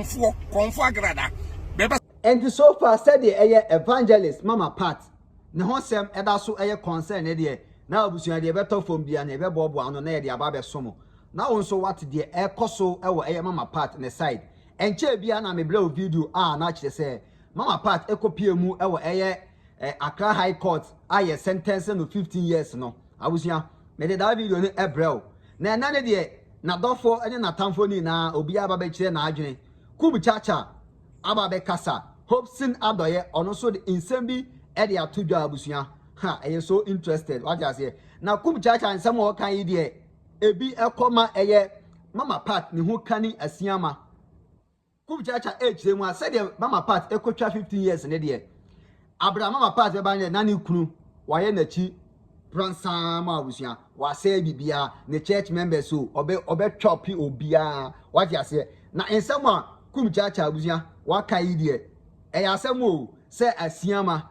Korɔmfoɔ, Korɔmfoɔ Agrada, bɛba. Enti so far sɛdeɛ ɛyɛ Evangelist Mama Pat ne ho sɛm da so yɛ concern ne deɛ, na abusua deɛ ɛbɛtɔ fam biara no yɛbɛboaboa ano na yɛde aba abɛso mo. Na wo nso woate deɛ ɛrekɔ so wɔ ɛyɛ Mama Pat ne side. Ɛnkyɛɛ biara na mebrɛɛ wo video a na kyerɛ sɛ Mama Pat kɔpuee mu wɔ ɛyɛ Accra High Court a yɛ sentence no 15 years no. Abusua, mede daa video no brɛ wo. Na ɛnnɛ no deɛ, n'adɔfoɔ ne n'atamfoɔ no nyinaa, obiara aba abɛkyerɛ n'adwene. Kub Caca aba abɛkasa. Hobson Adɔeɛ, ɔno nso de nsɛm bi de ato dwa abusua. Ha, ɛyɛ so interested, wate aseɛ. Na Kub Caca nsɛm a ɔka yi deɛ, ebi kɔ ma ɛyɛ Mama Pat ne ho kani asiama. Kup kyaakyaa ɛrekyerɛ mu a sɛdeɛ Mama Pat ɛkɔtwa 15 years ne deɛ, aberɛ a Mama Pat bɛba ne deɛ na ne kunu wayɛ n'akyi pransaa ma abusua, wasɛe biribiara, ne church members o, ɔbɛ ɔbɛtwa pi obiara, wate aseɛ. Na nsɛm a Kup kyaakyaa abusua waka yi deɛ, ɛyɛ asɛm o, sɛ asiama.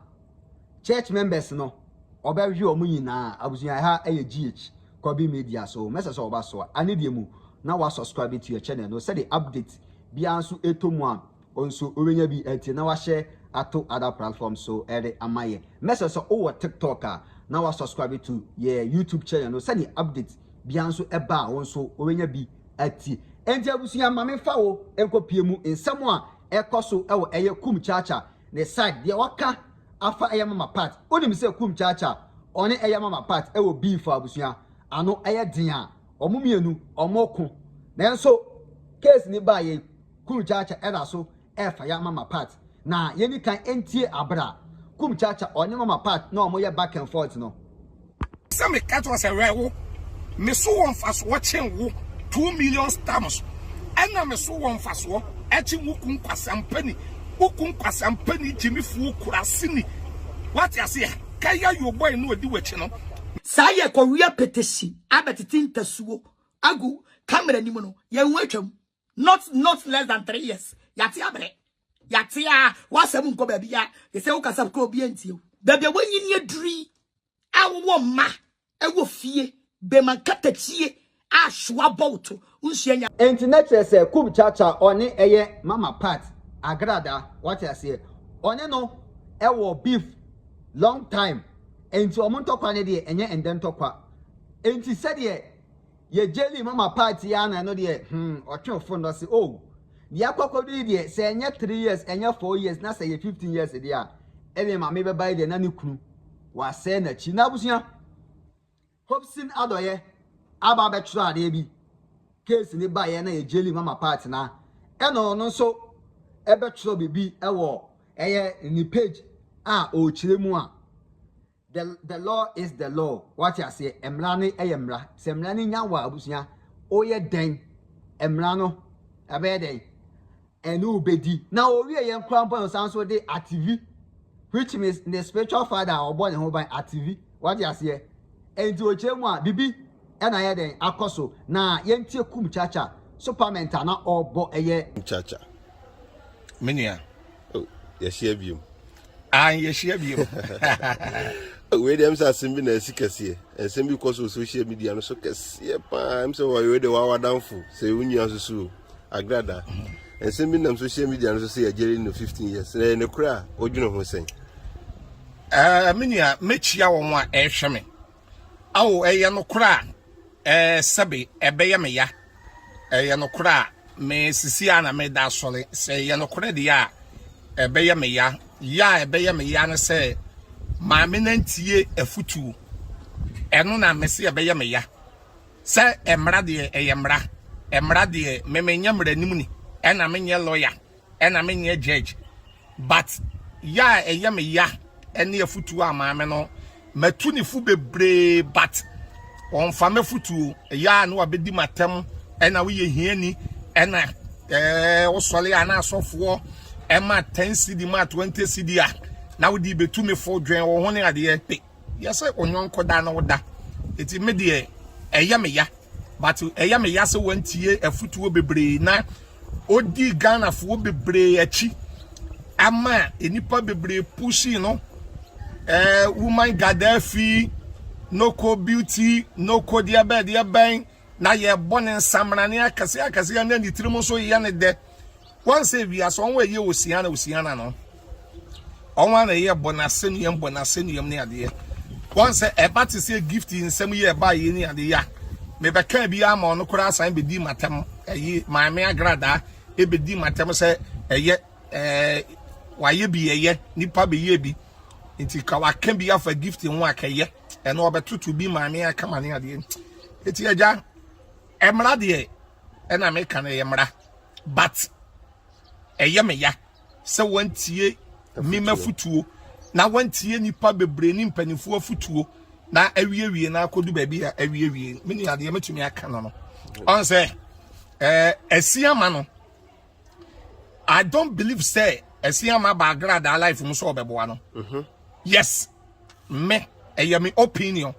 church members no ɔbɛ hwe ɔmo nyinaa abusua ɛha ɛyɛ GH kwabi media so mɛsɛ sɛ ɔba so a ane deɛ mu na wa subscribe to your channel no sɛde update biara nso ɛtɔ mu a ɔnso ɔbɛnya bi ɛti na wahyɛ ato other platform so ɛde ama yɛ mɛsɛ sɛ ɔwɔ tiktok a na wa subscribe to yɛ youtube channel no sɛde update biara nso ɛba a ɔnso ɔbɛnya bi atie ɛnti abusua ma mefa wo ɛnkɔ pie mu nsɛm a ɛkɔ so ɛwɔ ɛyɛ kum kyaakyaa Ne side deɛ waka afa ɛyɛ mama part wonim sɛ kum kyaakya ɔne ɛyɛ mama part ɛwɔ beef a abusua ano ɛyɛ den a wɔn mmienu wɔn ko nanso case ni baa yɛ kum kyaakya ɛda so ɛfa ya mama part na yɛni kan ɛntie abra kum kyaakya ɔne mama part na wɔn yɛ back and forth no. Sɛ me ka kyerɛ sɛ wɛ wo me so wɔ mfasoɔ kyen wo two million stamps ɛna me so wɔ mfasoɔ ɛkyen wo kun kwasampani wo kun kwasampani gyimifoɔ kurasini wate aseɛ kaya yo boy no ɔdi wakyi no. Saa yɛ kɔwia petesi abɛtete ntasuo agu camera nim no yɛn ho atwam. not not less than three years yate abrɛ yate a wasɛm nkɔ baabi a te sɛ wokasa kora obi antie wo baabi a wanyini aduri a wowɔ mma ɛwɔ fie bɛma nkatakyie a soa bɔ wo to wonsua nya Enti na kyerɛ sɛ kub cha cha ɔne ɛyɛ mama part agrada wate aseɛ ɔne no ɛwɔ beef long time enti ɔmo ntɔkwa no deɛ ɛnyɛ ɛndɛ ntɔkwa enti sɛdeɛ Yɛ jelly mama part yi ara na ɛno deɛ hmm ɔtwe wo fon no ɔse oh deɛ akɔ akɔdu yi deɛ sɛ ɛnyɛ three years ɛnyɛ four years na sɛ ɛyɛ fifteen years deɛ a ɛdeɛ maame bɛba yi deɛ na ne kunu wasɛe n'akyi na abusua Hobson Adɔyɛ aba abɛtwerɛ adeɛ bi case ne baeɛ na yɛ jelly mama part na ɛna ɔno nso ɛbɛtwerɛ biribi ɛwɔ ɛyɛ ne page a ɔrekyerɛ mu a The the law is the law. Wate aseɛ, mmara no yɛ mmara. Sɛ mmara no nya wɔ abusua, woyɛ dɛn? Mmara no ɛbɛyɛ dɛn? Ɛne wo bɛdi. Na owie yɛn kora mpo no san so de ativi, which means ne spiritual father a ɔbɔ ne ho ban ativi. Wate aseɛ? Enti okyerɛ mu a bibi ɛna yɛ dɛn akɔ so. Na yɛntie kum chacha, superment a na ɔbɔ ɛyɛ. Kum chacha. Me nua. Oh, yɛhyia biom. Ah, yɛhyia biom. wei deɛ m sɛ asɛm bi na asi kɛseɛ ɛnsɛm bi kɔ so social media no so kɛseɛ paa m sɛ wɔyɛ de wawadamfo sɛ wonua susuo agrada ɛnsɛm mhm. bi nam social media no so sɛ yɛgyere no 15 years na ɛne korɛ a wodwene ho sɛn eh, me nua mɛkyia wɔn a ɛrehwɛ me Ao, ɛyɛ nokorɛ a, ɛɛ, sɛbe, ɛbɛyɛ me ya, ɛyɛ nokorɛ a, me, sesie ara na mereda asɔre, sɛ ɛyɛ nokorɛ deɛ a, ɛbɛyɛ me ya, ya a ɛbɛyɛ me ya ne sɛ, maame no antie afutuo, ɛno na mese ɛbɛyɛ me ya, sɛ mmara deɛ, ɛyɛ mmara, mmara deɛ, me menyɛ mmaranim ni, ɛna menyɛ lɔya. Ɛna me nyɛ judge but ya a ɛyɛ me ya ɛne afutuo a maame no matu ne fu bebree but ɔnfa m'afutuo ya a ne wabɛdi m'atɛm ɛna woyɛ hiani ɛna ɛɛ wosɔre a na asɔfoɔ ɛma 10 cd ma 20 cd a na wode bɛtu me fo dwen wo ho ne adeɛ pe Yɛse onyɔnko da ne wo da. Eti me deɛ ɛyɛ me ya. But ɛyɛ me ya sɛ wantie afutuo bebree na odi Ghanafoɔ bebree akyi ama nnipa bebree pushing no. Eh, woman Gaddafi, noko beauty, noko deɛ bɛn deɛ bɛn na yɛbɔ ne nsamrane akɛseɛ akɛseɛ na ne tirim nso yɛ ne dɛ. Wan sɛ wiase ɔn wa yɛ osiana osiana no ɔn ana yɛ bɔ na sɛ nuam bɔ na sɛ nuam ne adeɛ wan sɛ ɛba te sɛ gift nsɛm yɛ ɛba yɛ ne ade ya me bɛ kan bi ama ɔno koraa asan bɛ di matam ɛyi maame agradaa ɛbɛ di matam sɛ ɛyɛ ɛɛ wayɛ bi ɛyɛ nipa bɛ yɛ bi nti ka waka bi afa gift ho akɛyɛ ɛno ɔbɛ toto bi maame akama ne adeɛ ɛti agya ɛmra deɛ ɛna meka no ɛyɛ mra But ɛyɛ me ya sɛ wantie me m'afutuo na wantie nipa bebree ne mpanimfoɔ afutuo na awiewie na akɔdu baabi a awiewie me nua deɛ mɛtumi aka no no ɔn sɛ ɛɛ ɛsi ama no I don't believe sɛ ɛsi ama baagradaa life mu sɛ ɔbɛboa no mhm. yes. me ɛyɛ me opinion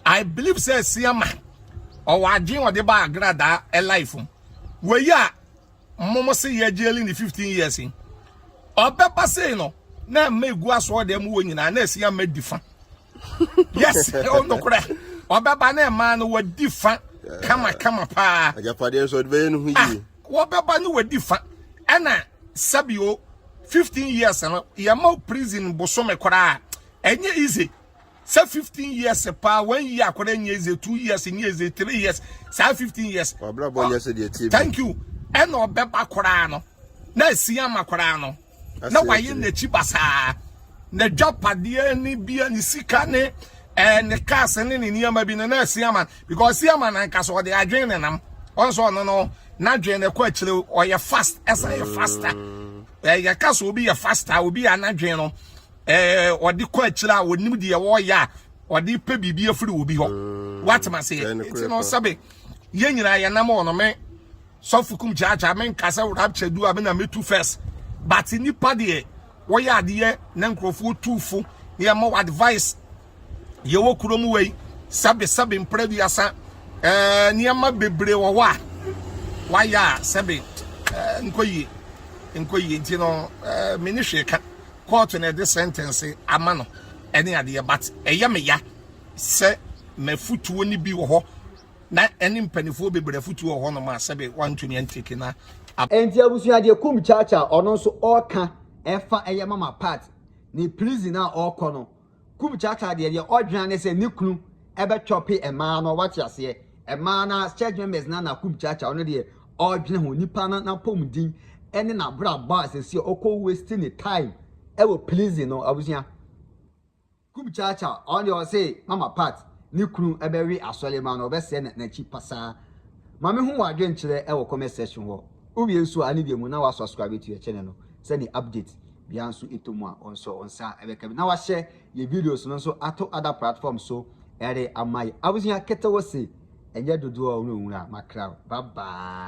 i believe sɛ asiama ɔwɔ adwene ɔde ba agradaa ɛlife mu wɔyi a mmomo se yɛ gyeli ne 15 years yi ɔbɛba sei no na mma egu asoɔ dɛm wɔ nyinaa na asiama di fa yes ɔnokorɛ ɔbɛba na ɛmaa no wɔdi fa kama kama paa agyapadeɛ nso ɔde bɛyɛ no ho yie Wɔbɛba ne wadi fa ɛna sɛbi o 15 years no yɛma wo prison bosome koraa ɛnyɛ easy sɛ 15 years paa one year koraa nyɛ easy two years nyɛ easy three years saa 15 years Wabrabɔ nyɛ sɛ deɛ ɛteɛ bi. thank you ɛna ɔbɛba koraa no na asi ama koraa no na wayɛ n'akyi basaa. N'adwapadeɛ ne bia ne sika ne ɛɛ eh, ne cars ne ne nneɛma bi no na asiaman because asiaman ankasa ɔde adwene ne nam ɔn sɛ ɔno no n'adwene ne kɔ akyire ɔyɛ fast ɛsan yɛ faster ɛɛ eh, yɛka sɛ obi yɛ faster obi yɛ anadwene no ɛɛ eh, ɔde kɔ akyire a onim deɛ wɔreyɛ a ɔde pɛ biribi afiri obi hɔ mm. watema seɛ nti no sɛbe yɛn nyinaa yɛnam ɔnome sɔfo kum gyaagyaa me nka sɛ rapture du a me na metu first but nipa deɛ wɔyɛ adeɛ na nkurɔfoɔ tu fo na yɛma wɔ advice yɛwɔ kuro mu wei sɛbe sɛbe mpere duasa ɛɛ nneɛma bebree wɔ hɔ a wayɛ a sɛbe ɛɛ nkɔ yie nkɔ yie nti no ɛɛ me ne hwee ka kɔɔto na ɛde sentence ama no ɛne adeɛ but ɛyɛ me ya sɛ mafutuo no bi wɔ hɔ na ɛne mpaninfoɔ bebree afutuo wɔ hɔ nom a sɛbe wantumi antake na ab. Enti abusua deɛ kum kyakya a ɔno nso ɔɔka ɛfa ɛyɛ mama part ne prison a ɔɔkɔ no kum kyakya deɛ deɛ ɔdwena ne sɛ ne kunu ɛbɛ chɔpe ɛmaa no wate aseɛ ɛmaa na church members na na kum kyakya ɔno deɛ ɔɔdwena ho nipa no napɔmuden ɛne na brabɔ a sɛsi ɔkɔ waste ne time ɛwɔ prison no abusua. Kubcharcha, ɔno deɛ ɔse mama pat ne kunu bɛwe asɔre ma no ɔbɛsɛɛ na nakyi pasaa ma me hu wadwenkyerɛ wɔ comment section hɔ wowie nso a ne deɛ mu na wa subscribe to yɛ channel no sɛ ne update bia nso ɛtɔ mu a ɔnso ɔnsa bɛka bi na wahyɛ yɛ videos no nso ato other platform so ɛre ama yɛ abusua ketewa se ɛnyɛ dodoɔ ɔwura ɔwura makra bye bye.